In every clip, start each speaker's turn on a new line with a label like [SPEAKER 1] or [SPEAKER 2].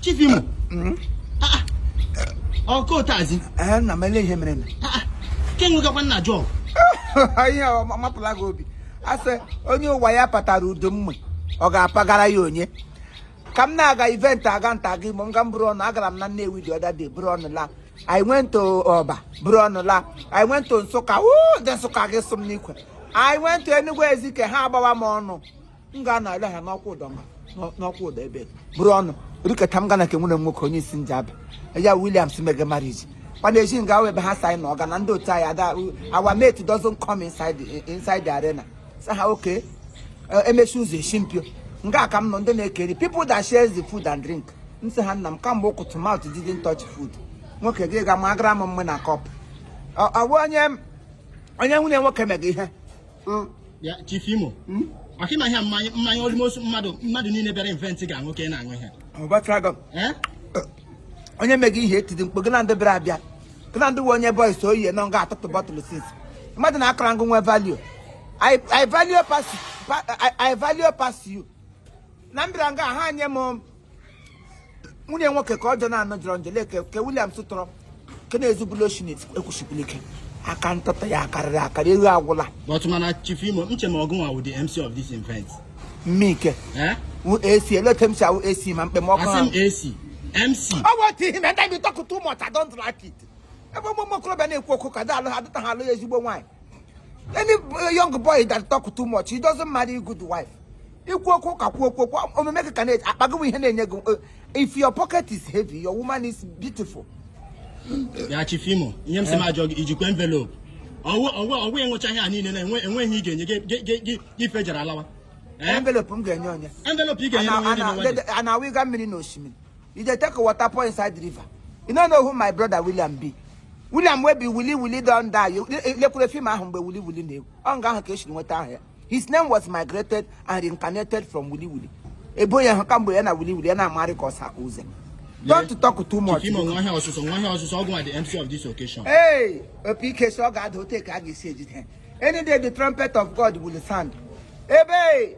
[SPEAKER 1] Chief Imo ọkụ ụtazi na m ele ihe
[SPEAKER 2] mere na ke
[SPEAKER 1] nwegakwa nna jọọ
[SPEAKER 2] ihe mapụla gị obi a sị onye ụwa ya patara udu mmai ọ ga-apagara ya onye ka m na-aga event aga nta aga imo nga m buru ọnụ agara m na Nnewi the other day buru ọnụ la I went to Ọba buru ọnụ la I went to Nsụka wuu ndị Nsụka gị sụ m n'ikwe I went to Enugu Ezike ha agbawa m ọnụ m ga na ala ha n'Okwudor ma n'Okwudor ebe buru ọnụ riketa m ga na ke nwanne nwoke onye isi Njaba ya Williams mega marriage mana eji nga ebe ha sị anyị na ọga na ndị otu anyị that our mate doesn't come inside the, inside the arena sị ha okay eh, e mechie ụzọ e si mpio nga a ka m nọ ndị na-eke nri people that shares the food and drink m sị ha nna m kamgbe ụtụtụ mouth didn't touch food nwoke gị ga ma agara m mmai na cup ọ bụ onye onye nwanne nwoke mega ihe
[SPEAKER 1] hmm? Chief Imo hmm? maka ịma ihe mmanya mmanya almost mmadụ mmadụ niile bịara event ga-aṅụ ka ị na-aṅụ
[SPEAKER 2] ihe onye mega ihe etidi mkpo gị na ndị bịara abịa gị na ndị nwe onye boy so oyi nọ nga atụtụ bottle since mmadụ na akara ngụ nwe value I, I value pass pa- I, I value pass you na m bịara nga ha nye m nwanne nwoke ka ọjọọ na-anọ jọrọ njọ lee ka- ka Williams tụrọ kene ezubulu oshinit ekwusikwuru ike aka ntụtụ ya akarịrị akarị ego agwụla but mana chief imo
[SPEAKER 1] m che ma ọ gụnwa wụ the MC of this event mmike eh?
[SPEAKER 2] wụ ac eleta m si awụ ac ma mkpe m ọkụ asị m ahụ
[SPEAKER 1] ac mc ọ bụ otu ihe
[SPEAKER 2] na ndị bi talk too much I don't like it ebe ụmụ okorobịa na-ekwu okwu ka dị alụ ha dịta ha alụ ya ezigbo nwaanyị any eh, young boy that talk too much he doesn't marry good wife ikwu okwu ka kwuo okwu omume gị ka na-akpago ihe na-enye gị eh, if your pocket is heavy your woman is beautiful
[SPEAKER 1] ya chief imo ihe m si m eh. ajụọ gị i jikwa envelope ọ wụ enwecha ihe a niile na enweghị ị ga-enye gị federal allowance envelope m
[SPEAKER 2] ga-enye onye envelope ị ga-enye onye a na-awụga mmiri na osimiri you dey take water pour inside river you no know who my brother william be william wey be wili wili don die You- le- lekwure film ahụ mgbe wili wili na-ewu ọ nga ahụ ka esi nweta aha ya his name was migrated and reincarnated from wili wili ebo ya hụ kamgbe ya na wili wili ya na-amarị ka ọsa ka uze don't talk too much Chief Imo nwa ihe ọsụsụ nwa
[SPEAKER 1] ihe ọsụsụ ọ gụ wụ the MC of this occasion. Hey, opi ike
[SPEAKER 2] si ọ ga-ada otu a ka a ga-esi ejide ha. Any day the trumpet of God will sound. Ebe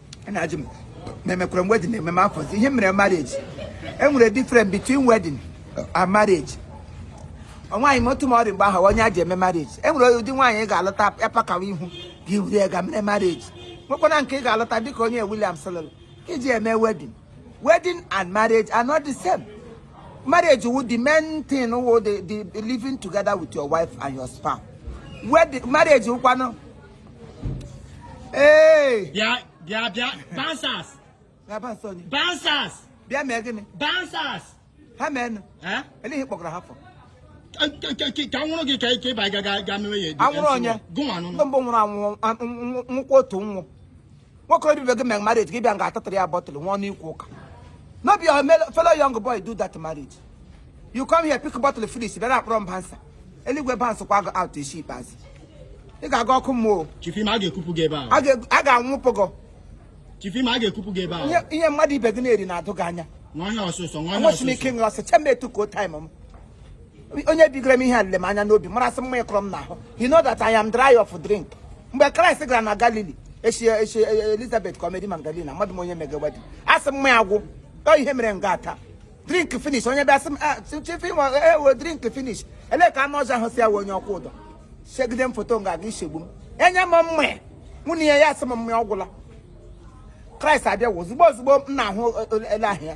[SPEAKER 2] na-ajụ m ma emekwara m wedding eme m afọzi ihe mere marriage e nwere difference between wedding and marriage nwaanyị m otu ma ọ dị mgbe ahụ onye a ji eme marriage e nwere ụdị nwaanyị ị ga-alụta ya pakawa ihu gị wuru ya ga mere marriage nwekwana nke ị ga-alụta dịka onye Williams lụrụ ka e ji eme wedding wedding and marriage are not the same marriage wụ the main thing wụ the the living together with your wife and your spouse wedding marriage wụkwanụ Hey! Bịa bịa
[SPEAKER 1] bịa bouncers. Na bouncer ni. Bouncers. Bịa mee
[SPEAKER 2] gịnị? Bouncers.
[SPEAKER 1] Ha mee nụ.
[SPEAKER 2] Eh? Elee ihe ị kpọkọrọ ha
[SPEAKER 1] for? Ka a nwụrụ gị ka ị bịa ga ga ga mewe ya. A nwụrụ onye? Gịnwa
[SPEAKER 2] nụnụ. Ndị mbụ nwụrụ
[SPEAKER 1] anwụ
[SPEAKER 2] nwụkwa otu nwụ. nwoke ibe gị mere marriage gị bịa nga a tụtụra ya bottle nwee ọnụ ikwu ụka no be your fellow young boy do that marriage you come here pick bottle finish bịara akpọrọ m bouncer eluigwe bouncekwa gị out isi ikpeazụ ị ga-aga ọkụ mmụọ Chief Imo a ga-ekupụ
[SPEAKER 1] gị ebe a a
[SPEAKER 2] ga-anwụpụ gị Chief
[SPEAKER 1] Imo a ga-ekupụ gị ebe a ihe mmadụ ibe gị na-eri
[SPEAKER 2] na-adụ gị anya nwa onye ọsụsọ nwa
[SPEAKER 1] onye ọsụsọ nwesị m ike ịṅụ
[SPEAKER 2] ọsọ chemba etu ka o time m onye bigoro m ihe a lere m anya n'obi mara sị mmai kọrọ m n'ahụ you know that I am dry of drink mgbe kraịst gara na galili echi echi e, e, elizabeth ka ọ Mary magdalena amadị m onye mega wedding a sị mmai agwụ ọ ihe mere nga a ta drink finish onye bịa sị m ah, chief Imo drink finish elee ka anụ ọzọ ahụ si ya wee onye ọkwụ ụdọ segide m foto nga a ga-esegbu m enye m mmai nwunye ya ya sị m mmai agwụla kraịst abịawo ozugbo ozugbo m na-ahụ ele ahụ ya